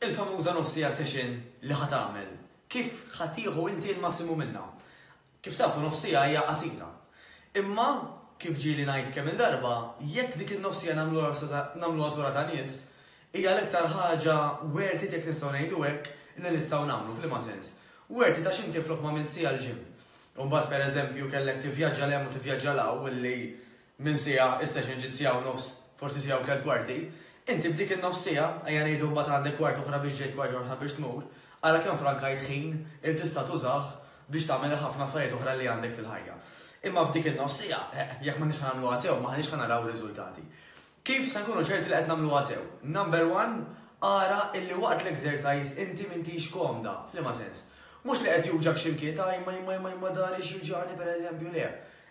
Il-famuża nofs siegħa session li ħa tagħmel, kif ħa tieħu inti l-massimu minnha? Kif tafu nofs siegħa hija qasira. Imma, kif ġieli ngħid kemm-il darba, jekk dik in-nofs siegħa nagħmluha żgħura ta' nies, hija l-iktar ħaġa worth it jekk nistgħu ngħidu hekk li nistgħu nagħmlu. F'liema sens? Worth it għax inti flok m'għamilt siegħa l-gym, u mbagħad pereżempju kellek tivvjaġġa 'l hemm u tivvjaġġa 'l hawn, li minn siegħa is-session ġiet siegħa u nofs, forsi siegħa u tliet kwarti, inti b'dik in-nofs siegħa, ejja ngħidu mbagħad għandek kwart oħra biex ġejt kwart oħra biex tmur, ara kemm frankajt ħin li tista' tużah biex tagħmel il-ħafna affarijiet oħra li għandek fil-ħajja. Imma f'dik in-nofs siegħa, eh, jekk m'aħniex ħa nagħmluha sew, m'aħniex ħa naraw riżultati. Kif se nkunu ċerti li qed nagħmluha sew? Number one, ara illi waqt l-exercise inti m'intix komda. F'liema sens? Mhux li qed juġgħek xi mkien, ta' imma imma imma imma dahri x'juġgħani pereżempju, le.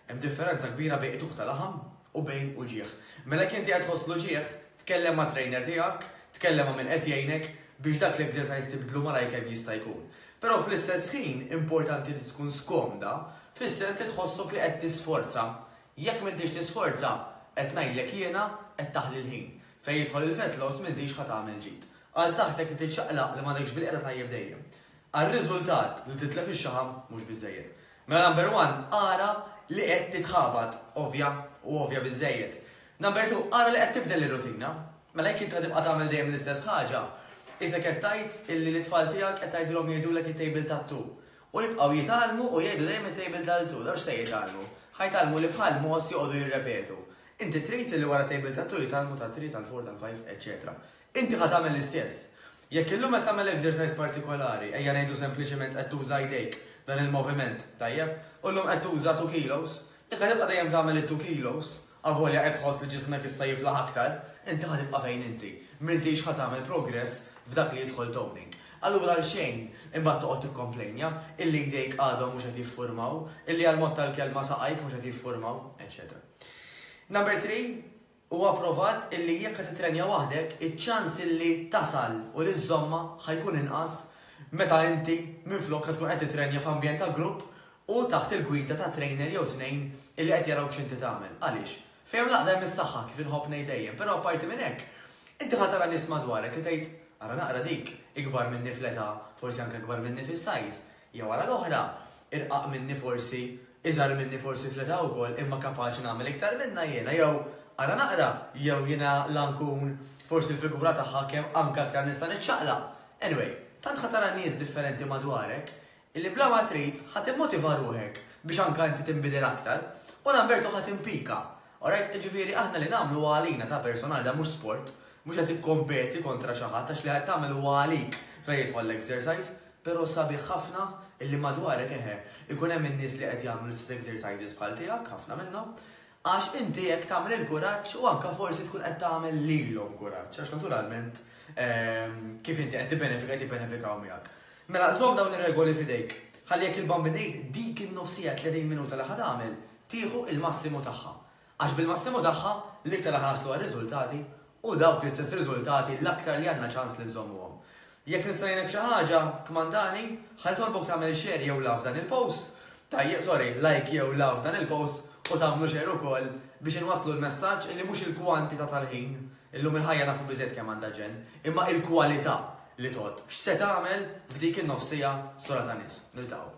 Hemm differenza kbira bejn qtugħ ta' laħam u bejn uġigħ. Mela jekk inti qed tħoss l-uġigħ, tkellem mat-trainer tiegħek, tkellem ma' min qed jgħinek biex dak l-exercise tibdlu malajr kemm jista' jkun. Però fl-istess ħin importanti li tkun skomda fis-sens li tħossok li qed tisforza. Jekk m'intix tisforza, qed ngħidlek jiena, qed taħli l-ħin. Fejn jidħol il-fat loss m'intix ħa tagħmel ġid. Għal saħħtek li tiċċaqlaq li m'għadekx bil-qiegħda tajjeb dejjem. Għar-riżultat, li titlef ix-xaħam mhux biżżejjed. Mela number one, ara li qed titħabat, ovvja, u ovvja biżżejjed. Number two, ara li qed tibdel ir-rutina. Mela jekk int ħa tibqa' tagħmel dejjem l-istess ħaġa, isek qed tgħid illi lit-tfal tiegħek qed tgħidilhom jgħidulek it-tejbil tat-tu. U jibqgħu jitgħallmu u jgħidu dejjem it-tejbil tal-tu. Dawn x'se jitgħallmu? Ħa jitgħallmu li bħal mogħoż joqogħdu jirrepetu. Inti trid illi wara tejbil tat-tu jitgħallmu tat-three, tal-four, tal-five, eċċetera. Inti ħa tagħmel l-istess. Jekk illum qed tagħmel exercise partikolari, ejja ngħidu sempliċement qed tuża jdejk, dan il-moviment, tajjeb, u llum qed tuża two kilos, jekk ħa tibqa' dejjem tagħmel it-two kilos, avolja qed tħoss li ġismek issa jiflaħ aktar, inti ħa tibqa' fejn inti. M'intix ħa tagħmel progress f'dak li jidħol toning. Allura għalxejn imbagħad toqgħod tikkomplejnja illi jdejk għadhom mhux qed jiffurmaw, illi għall-mod tal-kelma saqajk mhux qed jiffurmaw, eċċetera. Number three, Huwa pprovat illi jekk qed tittrenja waħdek, iċ-ċans illi tasal u li żżommha ħa jkun inqas meta inti minflok ħa tkun qed tittrenja f'ambjent ta' grupp u taħt il-gwida ta' trainer jew tnejn illi qed jarawk x'inti tagħmel. Għaliex? Fejn hemm l-għaqda hemm is-saħħa kif inħobb ngħid dejjem, però apparti minn hekk, inti ħa tara nies madwarek li tgħid, ara naqra dik, ikbar minni fl-età, forsi anke ikbar minni fis-size, Jew għala l-oħra, irqaq minni forsi, iżgħar minni forsi fl-età wkoll imma kapaċi nagħmel iktar minnha jiena jew, ara naqra, jew jiena la nkun forsi l-figura tagħha kemm anke aktar nista' niċċaqlaq. Anyway, tant ħa tara nies differenti madwarek illi bla ma trid ħa timmotiva ruħek biex anke inti tinbidel aktar u Lamberto ħa timpika Alright, jiġifieri aħna li nagħmlu huwa għalina, ta' personali, dan mhux sport, mhux qed tikkompeti kontra xi ħadd għax li qed tagħmel huwa għalik fejn jidħol l-exercise, però sabiħ ħafna illi madwarek eħe, ikun hemm in-nies li qed jagħmlu l-istess exercises bħal tiegħek, ħafna minnhom, għax inti hekk tagħmel il-kuraġġ u anke forsi tkun qed tagħmel lilhom kuraġġ għax naturalment kif inti qed tibbenefika qed jibbenefikaw miegħek. Mela żomm dawn ir-regoli f'idejk. Ħalli jekk il-bambin ngħid dik in-nofsija 30 minuta li ħa tagħmel tieħu l-massimu tagħha. Għax bil-massimu tagħha, l-iktar aħna naslu għar-riżultati u dawk l-istess riżultati l-aktar li għandna ċans li nżommuhom. Jekk nista' ngħinek f'xi ħaġa, kmandani, ħa nitolbok tagħmel share jew love dan il-post, tajjeb sorry, like jew love dan il-post u tagħmlu share ukoll biex inwasslu l-messaġġ illi mhux il-kwantità tal-ħin, illum il-ħajja nafu biżejjed kemm għandha ġenn, imma il-kwalità li tgħodd. X'se tagħmel f'dik in-nofs siegħa sura ta' nies. Niltaqgħu.